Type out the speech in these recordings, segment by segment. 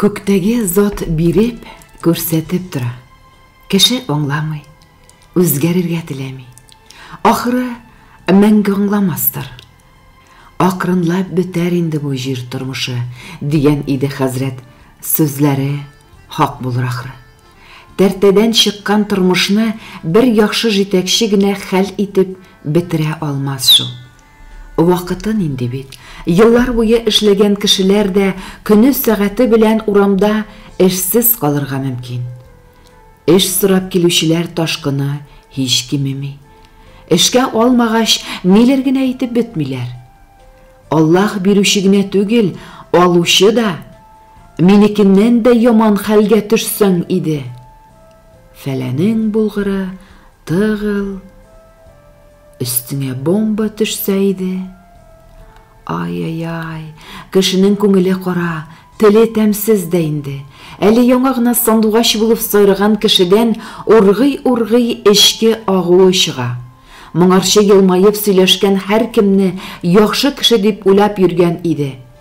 Күктәге Зат биреп, күрсәтеп тора. Кеше аңламый, үзгәрергә теләми. Ахры, мәңге аңламастыр. Акрынлап бетәр инде бу җир тормышы, дигән иде хәзрәт, сүзләре хак булыр ахры. Тәртәдән чыккан тормышны бер яхшы җитәкче генә хәл итеп бетерә алмас шул. Вакытын инде бит, еллар буе эшләгән кешеләр дә көне-сәгате белән урамда эшсез калырга мөмкин. Эш сорап килүчеләр ташкыны һич кимеми. Эшкә алмагач, ниләр генә әйтеп бетмиләр. Аллаһ бирүче генә түгел, алучы да. Минекеннән дә яман хәлгә төшсәң иде. Фәләнең булгыры, тыгыл. Өстеңә бомба төшсә иде. Ай-яй-яй, кешенең күңеле кара, теле тәмсез дә инде. Әле яңа гына сандугач булып сайраган кешедән ургый-ургый эчке агуы чыга. Моңарчы елмаеп сөйләшкән һәркемне яхшы кеше дип уйлап йөргән иде.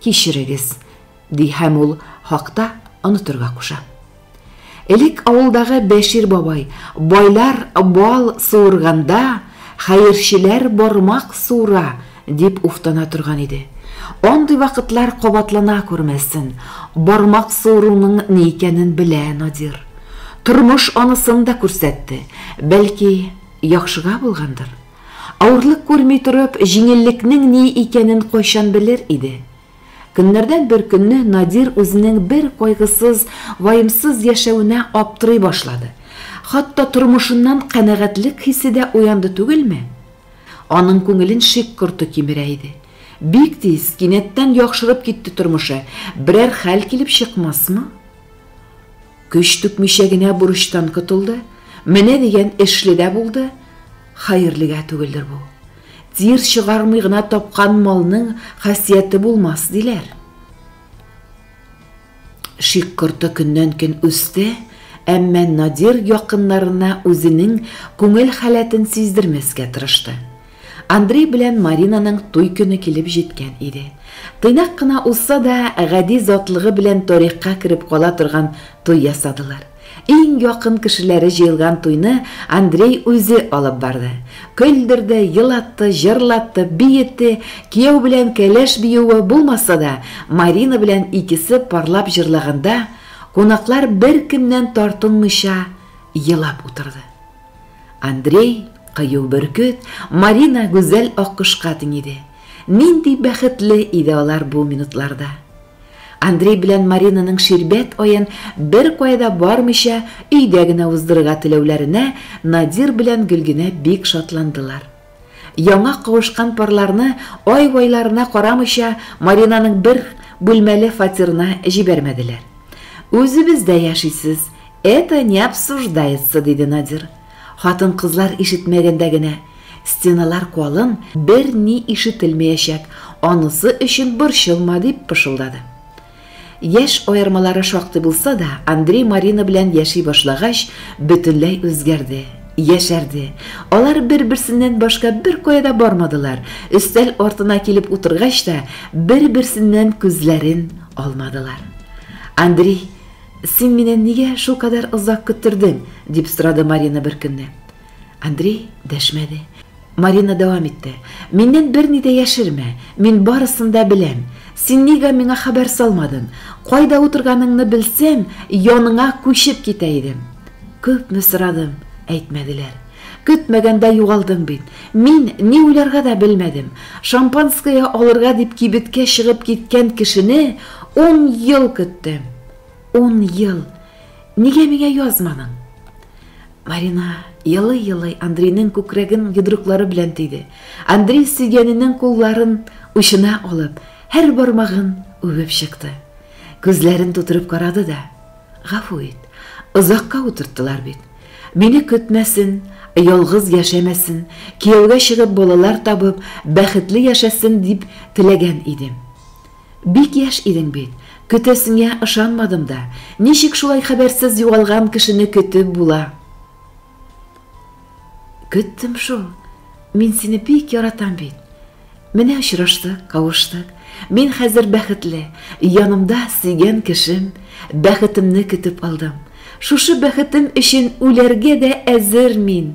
Кичерегез, ди һәм ул хакта онытырга куша. Элек авылдагы Бәшир бабай, байлар бал суырганда, хәерчеләр бармак суыра, дип уфтана торган иде. Андый вакытлар кабатлана күрмәсен, бармак суыруның ни икәнен белә Надир. Тормыш анысын да күрсәтте, бәлки, яхшыга булгандыр. Авырлык күрми торып, җиңеллекнең ни икәнен кайчан белер иде? Көннәрдән бер көнне Надир үзенең бер кайгысыз, ваемсыз яшәвенә аптырый башлады. Хатта тормышыннан канәгатьлек хисе дә уянды түгелме? Аның күңелен шик корты кимерә иде. Бик тиз, кинәттән яхшырып китте тормышы, берәр хәл килеп чыкмасмы? Көч түкмичә генә бурычтан котылды, менә дигән эшле дә булды, хәерлегә түгелдер бу. Тир чыгармый гына тапкан малның хасияте булмас, диләр. Шик корты көннән-көн үсте, әмма Надир якыннарына үзенең күңел халәтен сиздермәскә тырышты. Андрей белән Маринаның туй көне килеп җиткән иде. Тыйнак кына узса да, гади затлыгы белән тарихка кереп кала торган туй ясадылар. Иң якын кешеләре җыелган туйны Андрей үзе алып барды. Көлдерде, елатты, җырлатты, биетте, кияү белән кәләш биюе булмаса да, Марина белән икесе парлап җырлаганда, кунаклар беркемнән тартынмыйча елап утырды. Андрей, кыю бөркет, Марина, гүзәл аккошка тиң иде. Нинди бәхетле иде алар бу минутларда! Андрей белән Маринаның ширбәт аен беркая да бармыйча, өйдә генә уздырырга теләүләренә Надир белән Гөлгенә бик шатландылар. Яңа кавышкан парларны ай-вайларына карамыйча Маринаның бер бүлмәле фатирына җибәрмәделәр. Үзебездә яшисез, это не обсуждается, диде Надир. Хатын-кызлар ишетмәгәндә генә, стеналар калын, берни ишетелмәячәк, анысы өчен борчылма, дип пышылдады. Яшь аермалары шактый булса да, Андрей Марина белән яши башлагач, бөтенләй үзгәрде, яшәрде. Алар бер-берсеннән башка беркая да бармадылар, өстәл артына килеп утыргач та, бер-берсеннән күзләрен алмадылар. Андрей, син мине нигә шулкадәр озак көттердең? дип сорады Марина беркөнне. Андрей дәшмәде. Марина дәвам итте. Миннән берни дә яшермә. Мин барысын да беләм. Син нигә миңа хәбәр салмадың? Кайда утырганыңны белсәм, яныңа күчеп китә идем. Күпме сорадым, әйтмәделәр. Көтмәгәндә югалдың бит. Мин ни уйларга да белмәдем. Шампанское алырга дип кибеткә чыгып киткән кешене ун ел көттем. Ун ел. Нигә миңа язманың? Марина елый-елый Андрейның күкрәген йодрыклары белән тиде. Андрей сөйгәненең кулларын учына алып, һәр бармагын үбеп чыкты. Күзләрен тутырып карады да, Гафу ит, озакка утырттылар бит. Мине көтмәсен, ялгыз яшәмәсен, кияүгә чыгып балалар табып, бәхетле яшәсен дип теләгән идем. Бик яшь идең бит, көтәсеңә ышанмадым да, ничек шулай хәбәрсез югалган кешене көтеп була? Көттем шул, мин сине бик яратам бит. Менә очраштык, кавыштык. Мин хәзер бәхетле, янымда сөйгән кешем, бәхетемне көтеп алдым. Шушы бәхетем өчен үләргә дә әзер мин.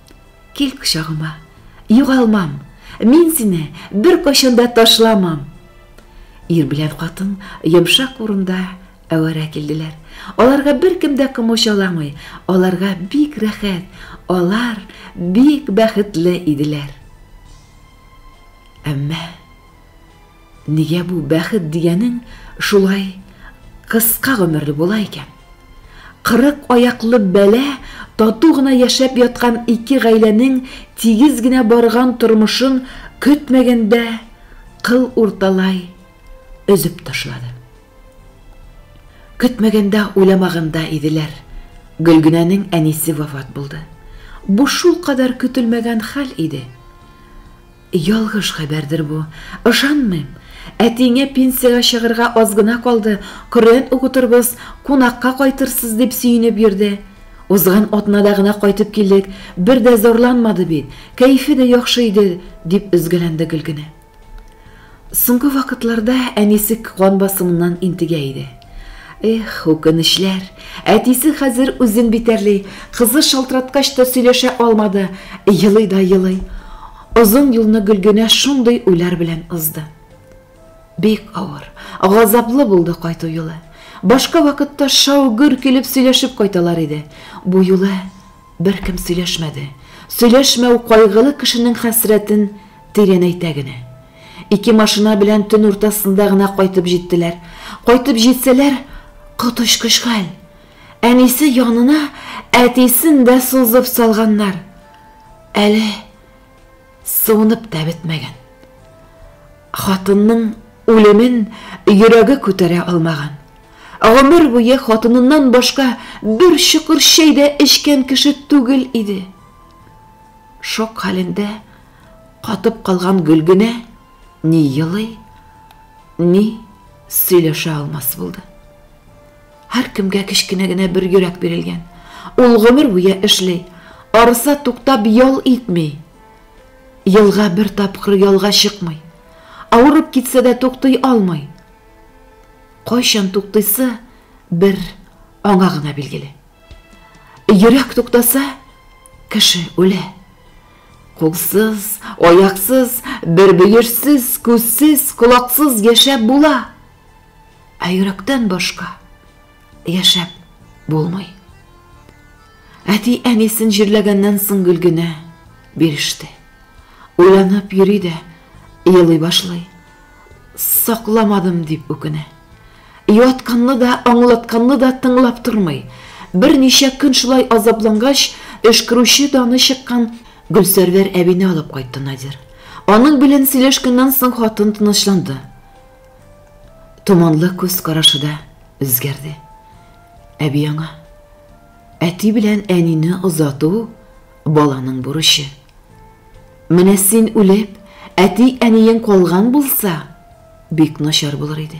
Кил кочагыма, югалмам, мин сине бер качанда ташламам. Ир белән катын йомшак урында әвәрә килделәр. Аларга бер кем дә комачауламый, аларга бик рәхәт, алар бик бәхетле иделәр. Әмма Нигә бу бәхет дигәнең шулай кыска гомерле була икән? Кырык аяклы бәла тату гына яшәп яткан ике гаиләнең тигез генә барган тормышын көтмәгәндә кыл урталай өзеп ташлады. Көтмәгәндә, уйламаганда иделәр, Гөлгенәнең әнисе вафат булды. Бу шулкадәр көтелмәгән хәл иде. Ялгыш хәбәрдер бу. Ышанмыйм. Әтиеңә пенсиягә чыгырга аз гына калды, Коръән укытырбыз, кунакка кайтырсыз, дип сөенеп йөрде. Узган атнада гына кайтып килдек, бер дә зарланмады бит, кәефе дә яхшы иде, дип өзгәләнде Гөлгенә. Соңгы вакытларда әнисе кан басымыннан интегә иде. Эх, үкенечләр. Әтисе хәзер үзен битәрли, кызы шалтыраткач та сөйләшә алмады, елый да елый. Озын юлны Гөлгенә шундый уйлар белән узды. Бик авыр, газаплы булды кайту юлы. Башка вакытта шау-гөр килеп сөйләшеп кайталар иде. Бу юлы беркем сөйләшмәде. Сөйләшмәү кайгылы кешенең хәсрәтен Тирәнәйтә генә. Ике машина белән төн уртасында гына кайтып җиттеләр. Кайтып җитсәләр, коточкыч хәл. Әнисе янына әтисен дә сузып салганнар. Әле суынып та бетмәгән. Хатынның үлемен йөрәге күтәрә алмаган. Гомер буе хатыныннан башка бер чокыр чәй дә эчкән кеше түгел иде. Шок хәлендә катып калган Гөлгенә ни елый, ни сөйләшә алмас булды. Һәркемгә кечкенә генә бер йөрәк бирелгән. Ул гомер буе эшли, арыса туктап ял итми. Елга бер тапкыр ялга чыкмый. Авырып китсә дә туктый алмый. Кайчан туктыйсы бер аңа гына билгеле. Йөрәк туктаса, кеше үлә. Кулсыз, аяксыз, бер бөерсез, күзсез, колаксыз яшәп була. Ә йөрәктән башка яшәп булмый. Әти әнисен җирләгәннән соң гел генә биреште. Уйланып йөри дә, елый башлый. Сакламадым дип үкенә. Юатканны да, аңлатканны да тыңлап тормый. Берничә көн шулай азаплангач, өшкерүче даны чыккан Гөлсәрвәр әбине алып кайтты Надир. Аның белән сөйләшкәннән соң хатын тынычланды. Томанлы күз карашы да үзгәрде. Әби аңа, әти белән әнине озату Баланың бурычы. Менә син үлеп, әти-әниең калган булса, бик начар булыр иде.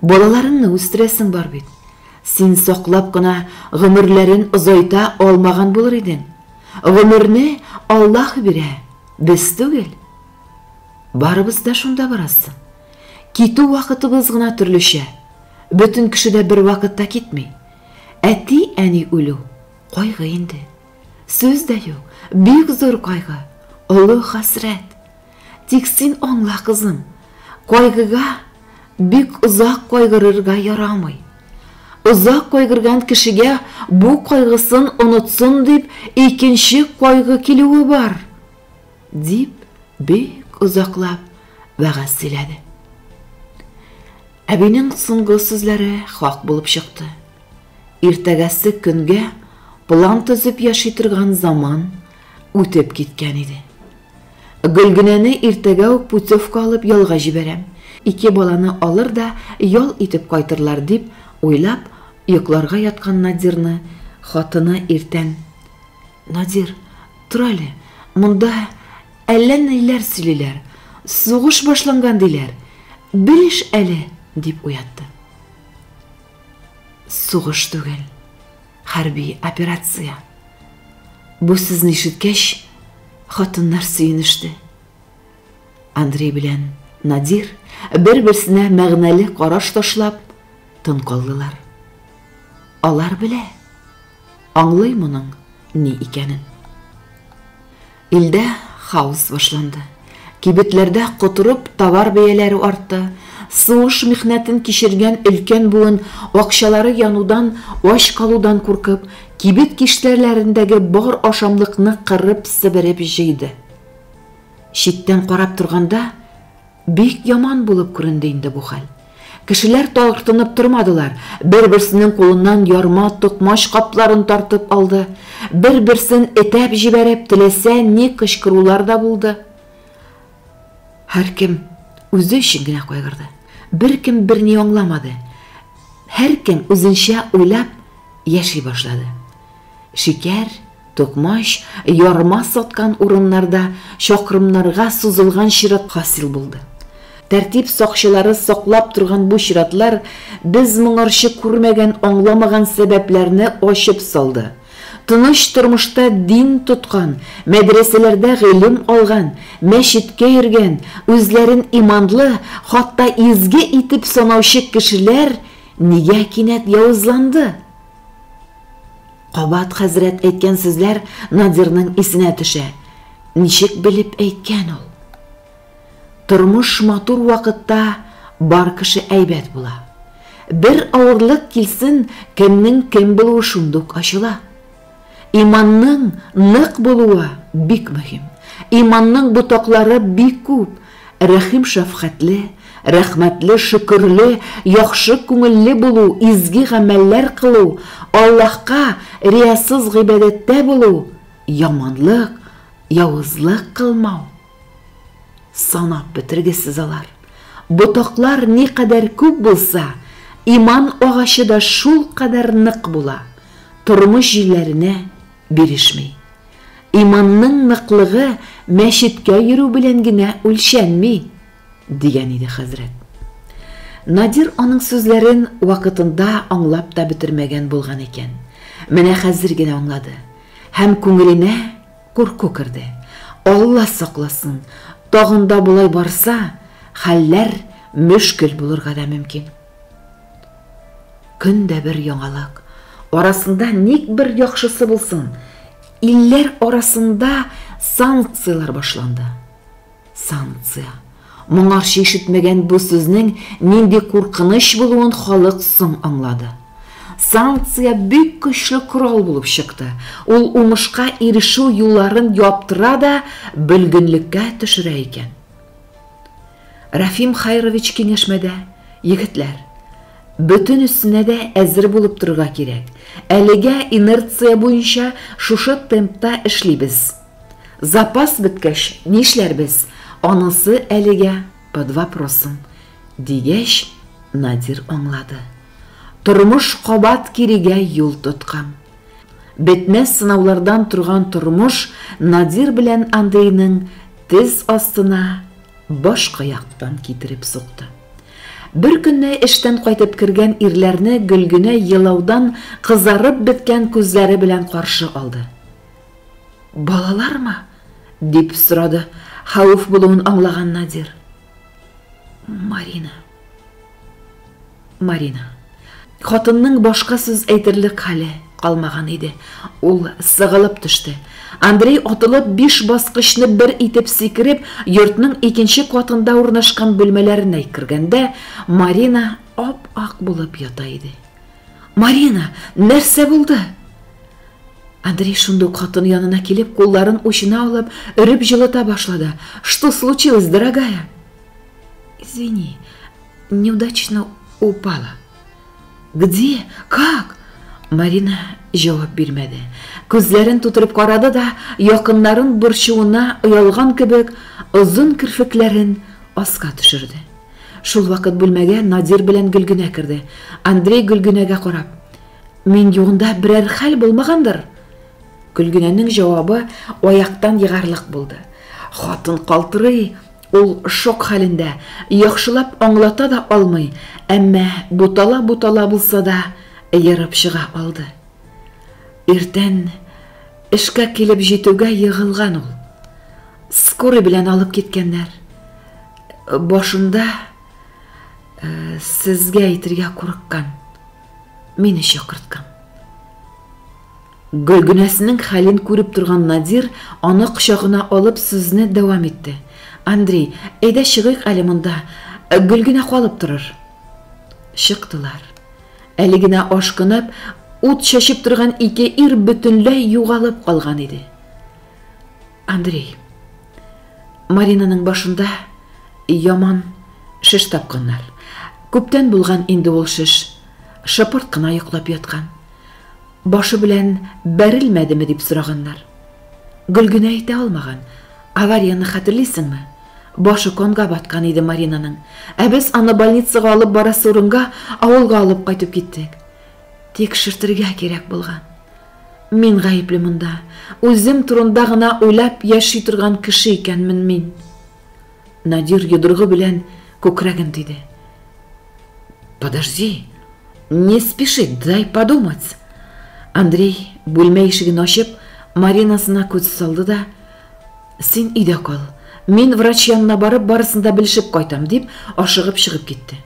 Балаларыңны үстерәсең бар бит. Син саклап кына гомерләрен озайта алмаган булыр идең. Гомерне Аллаһ бирә, без түгел. Барыбыз да шунда барасың. Китү вакытыбыз гына төрлечә. Бөтен кеше дә бер вакытта китми. Әти-әни үлү Кайгы инде. Сүз дә юк. Бик зур кайгы. Олы хәсрәт. Тик син аңла, кызым. Кайгыга бик озак кайгырырга ярамый. Озак кайгырган кешегә бу кайгысын онытсын дип икенче кайгы килүе бар. Дип, бик озаклап вәгазь сөйләде. Әбинең соңгы сүзләре хак булып чыкты. Иртәгәсе көнгә план төзеп яши торган заман үтеп киткән иде. Гөлгенәне иртәгә үк путевка алып ялга җибәрәм, ике баланы алыр да ял итеп кайтырлар, дип уйлап, йокларга яткан Надирны хатыны иртән, Надир, тор әле, монда әллә ниләр сөйлиләр, сугыш башланган диләр, белеш әле, дип уятты. Сугыш түгел, хәрби операция. Бу сүзне ишеткәч, хатыннар сөенеште. Андрей белән Надир бер-берсенә мәгънәле караш ташлап, тын калдылар. Алар белә, Аңлый моның ни икәнен. Илдә хаос башланды. Кибетләрдә котырып товар бәяләре артты. Суыш михнәтен кичергән өлкән буын акчалары янудан, ач калудан куркып, кибет киштәләрендәге бар ашамлыкны кырып-себереп җыйды. Читтән карап торганда, Бик яман булып күренде инде бу хәл. Кешеләр тартынып тормадылар, бер-берсенең кулыннан ярма, токмач капларын тартып алды, бер-берсен этәп җибәреп, теләсә ни кычкырулар да булды. Һәркем үзе өчен генә кайгырды. Беркем берни аңламады. Һәркем үзенчә уйлап яши башлады. Шикәр, токмач, ярма саткан урыннарда чакрымнарга сузылган чират хасил булды. Тәртип сакчылары саклап торган бу чиратлар без моңарчы күрмәгән-аңламаган сәбәпләрне ачып салды. Тыныч тормышта дин тоткан, мәдрәсәләрдә гыйлем алган, мәчеткә йөргән, үзләрен иманлы, хатта изге итеп санаучы кешеләр нигә кинәт явызланды? Кабат хәзрәт әйткән сүзләр Надирның исенә төшә. Ничек белеп әйткән ул? Тормыш матур вакытта бар кеше әйбәт була. Бер авырлык килсен, кемнең кем булуы шундук ачыла. Иманның нык булуы бик мөһим. Иманның ботаклары бик күп. Рәхим-шәфкатьле, рәхмәтле, шөкерле, яхшы күңелле булу, изге гамәлләр кылу, Аллаһка риясыз гыйбадәттә булу, яманлык, явызлык кылмау. Санап бетергесез алар. Ботаклар никадәр күп булса, иман агачы да шулкадәр нык була, тормыш җилләренә бирешми. Иманның ныклыгы мәчеткә йөрү белән генә үлчәнми, дигән иде хәзрәт. Надир аның сүзләрен вакытында аңлап та бетермәгән булган икән. Менә хәзер генә аңлады. Һәм күңеленә курку керде. Алла сакласын, тагын да болай барса, хәлләр мөшкел булырга да мөмкин. Көн дә бер яңалык. Арасында ник бер яхшысы булсын? Илләр арасында санкцияләр башланды. Санкция. Моңарчы ишетмәгән бу сүзнең нинди куркыныч булуын халык соң аңлады. Санкция бик көчле корал булып чыкты. Ул уңышка ирешү юлларын яптыра да бөлгенлеккә төшерә икән. Рәфим Хәйрович киңәшмәдә, Егетләр, бөтенесенә дә әзер булып торырга кирәк. Әлегә инерция буенча шушы темпта эшлибез. Запас беткәч, нишләрбез, анысы әлегә под вопросом, дигәч, Надир аңлады. Тормыш кабат кирегә юл тоткан. Бетмәс сынаулардан торган тормыш Надир белән Андрейның тез астына Башка яктан китереп сукты. Беркөнне эштән кайтып кергән ирләрне Гөлгенә елаудан кызарып беткән күзләре белән каршы алды. Балалармы? дип сорады, хәвеф булуын аңлаган Надир. Марина. Марина. Хатынның башка сүз әйтерлек хәле калмаган иде. Ул сыгылып төште. Андрей атылып биш баскычны бер итеп сикереп, йортның икенче катында урнашкан бүлмәләренә кергәндә, Марина ап-ак булып ята иде. Марина, нәрсә булды? Андрей шундук хатын янына килеп, кулларын учына алып, өреп җылыта башлады. Что случилось, дорогая? Извини, Неудачно упала. Где? Как? Марина җавап бирмәде. Күзләрен тутырып карады да, якыннарын борчуына оялган кебек, озын керфекләрен аска төшерде. Шул вакыт бүлмәгә Надир белән Гөлгенә керде. Андрей Гөлгенәгә карап, "Мин югында берәр хәл булмагандыр?" Гөлгенәнең җавабы аяктан егарлык булды. Хатын калтырый, Ул шок хәлендә, яхшылап аңлата да алмый, әмма бутала-бутала булса да ерып чыга алды. Иртән эшкә килеп җитүгә егылган ул. Скорый белән алып киткәннәр. Башында сезгә әйтергә курыккан. Мине чакырткан. Гөлгенәсенең хәлен күреп торган Надир, аны кочагына алып, сүзне дәвам итте. Андрей, әйдә чыгыйк әле монда. Гөлгенә калып торыр. Чыктылар. Әле генә ашкынып, ут чәчеп торган ике ир бөтенләй югалып калган иде. Андрей. Маринаның башында яман шеш тапканнар. Күптән булган инде ул шеш. Шыпырт кына йоклап яткан. Башы белән бәрелмәдеме дип сораганнар. Гөлгенә әйтә алмаган. Аварияны хәтерлисеңме? Башы конга баткан иде Маринаның. Ә без аны больницага алып барасы урынга авылга алып кайтып киттек. Тикшертергә кирәк булган. Мин гаепле монда. Үзем турында гына уйлап яши торган кеше икәнмен мин. Надир йодрыгы белән күкрәген тиде. Подожди, не спеши, дай подумать. Андрей бүлмә ишеген ачып, Маринасына күз салды да, Син өйдә кал, мин врач янына барып, барысын да белешеп кайтам, дип, ашыгып чыгып китте.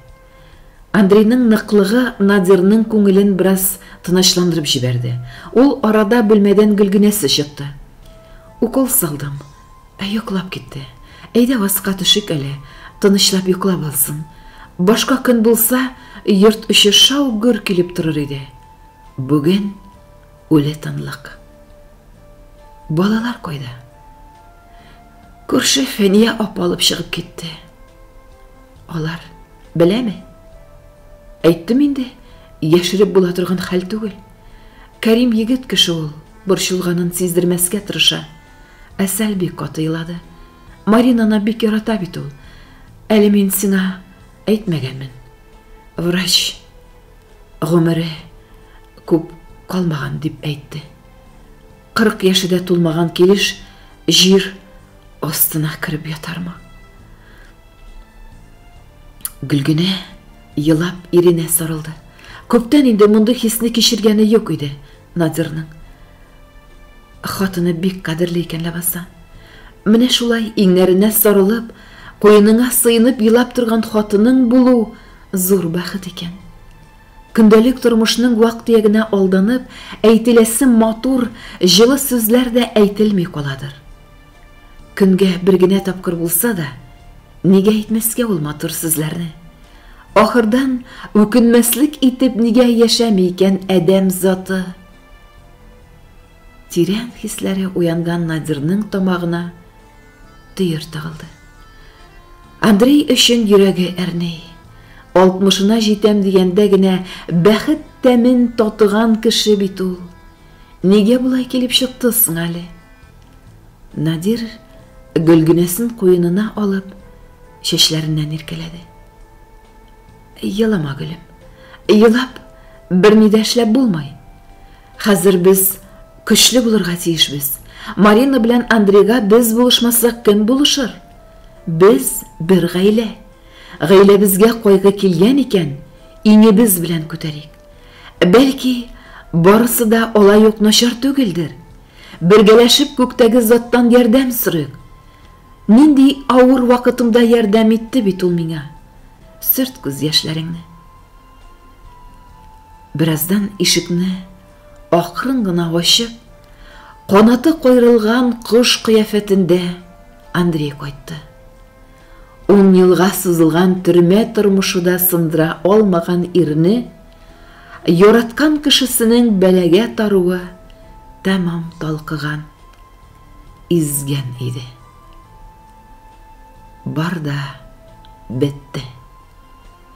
Андрейның ныклыгы Надирның күңелен бераз тынычландырып җибәрде. Ул арада бүлмәдән Гөлгенәсе чыкты. Укол салдым. Ә йоклап китте. Әйдә аска төшик әле, тынычлап йоклап алсын. Башка көн булса, йорт эче шау-гөр килеп торыр иде. Бүген үле тынлык. Балалар кайда? Күрше Фәния апа алып чыгып китте. Алар беләме? Әйттем инде, яшереп була торган хәл түгел. Кәрим егет кеше ул, борчылганын сиздермәскә тырыша. Ә Сәлби каты илады. Маринаны бик ярата бит ул. Әле мин сиңа әйтмәгәнмен. Врач гомере күп калмаган дип әйтте. Кырык яше дә тулмаган килеш җир астына кереп ятармы? Гөлгенә елап иренә сарылды. Күптән инде мондый хисне кичергәне юк иде Надирның. Хатыны бик кадерле икән ләбаса. Менә шулай иңнәренә сарылып, куеныңа сыенып елап торган хатының булу зур бәхет икән. Көндәлек тормышның вак-төягенә алданып, әйтеләсе матур, җылы сүзләр дә әйтелми каладыр. Көнгә бер генә тапкыр булса да, нигә әйтмәскә ул матур сүзләрне? Ахырдан, үкенмәслек итеп нигә яшәми икән адәм заты? Тирән хисләре уянган Надирның тамагына төер тыгылды. Андрей өчен йөрәге әрни. Алтмышына җитәм дигәндә генә бәхет тәмен татыган кеше бит ул. Нигә болай килеп чыкты соң әле? Надир гөлгенәсен куенына алып, чәчләреннән иркәләде. Елама, гөлем. Елап, берни дә эшләп булмый. Хәзер без көчле булырга тиешбез. Марина белән Андрейга без булышмасак кем булышыр? Без бер гаилә. Гаиләбезгә кайгы килгән икән, иңебез белән күтәрик. Бәлки, барысы да алай ук начар түгелдер. Бергәләшеп күктәге заттан ярдәм сорыйк. Нинди авыр вакытымда ярдәм итте бит ул миңа. Сөрт күз яшьләреңне. Бераздан ишекне акрын гына ачып, канаты кайрылган кош кыяфәтендә Андрей кайтты. Ун елга сузылган төрмә тормышы да сындыра алмаган ирне яраткан кешесенең бәлагә таруы тәмам талкыган, изгән иде. Бар да бетте.